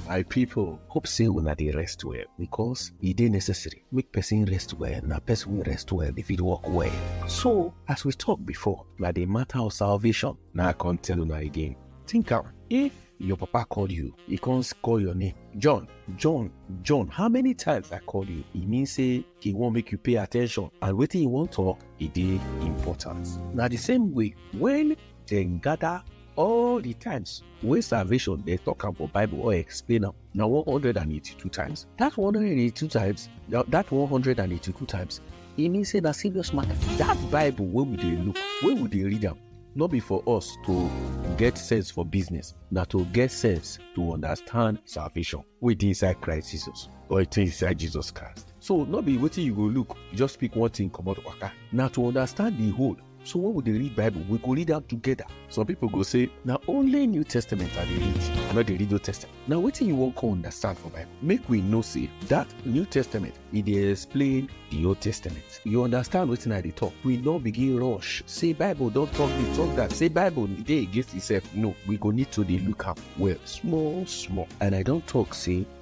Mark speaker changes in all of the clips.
Speaker 1: my people hope say una dey rest well because e dey necessary make person rest well na person wey rest well dey fit work well so as we talk before na the matter of salvation na i come tell una again think am if your papa call you e come call your name john john john how many times i call you e mean say e wan make you pay attention and wetin e wan talk e dey important na the same way when dem gather All the times wey salvation dey talk am for Bible or explain am na 182 times. That 182 times, that 182 times, e mean say na serious matter. That Bible wey we dey look, wey we dey read am, no be for us to get sense for business, na to get sense to understand salvation wey dey inside Christ Jesus or it is inside Jesus Christ. So no be wetin you go look, just pick one thing comot waka. Na to understand the whole So when we dey read Bible, we go read am together. Some people go say, na only New Testament I dey read, I no dey read Old Testament. Na wetin you wan come understand for Bible? Make we know say that New Testament e dey explain the Old Testament. You understand wetin I dey talk? We no begin rush say Bible don talk this, talk that, say Bible dey against itself. No, we go need to dey look am well, small small. And I don talk say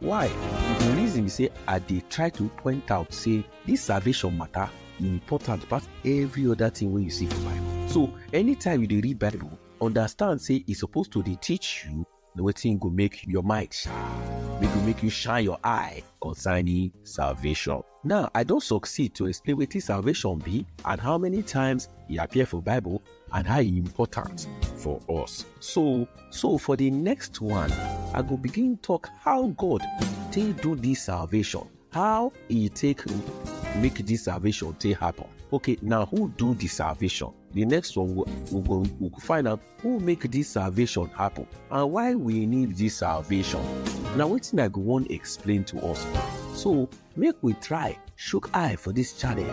Speaker 1: Why? The reason be say I dey try to point out say this salvation matter e important pass every other thing wey you see for Bible. So anytime you dey read Bible, understand say e suppose to dey teach you the wetin go make your mind sharp, wey go make you shine your eye concerning salvation. Now, I don succeed to explain wetin salvation be and how many times e appear for Bible and how e important for us. So, so for the next one, I go begin talk how God take do this salvation, how e take make this salvation take happen. Okay, now who do the salvation? The next one we we go we go find out Who make this salvation happen and why we need this salvation? Na wetin I go wan explain to us. So make we try shook eye for this channel.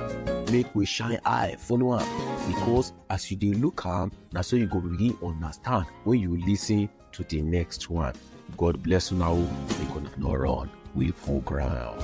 Speaker 1: Make we shine eye follow am because as you dey look am, na so you go begin understand when you listen to the next one. God bless una o. Make una no run. We full ground.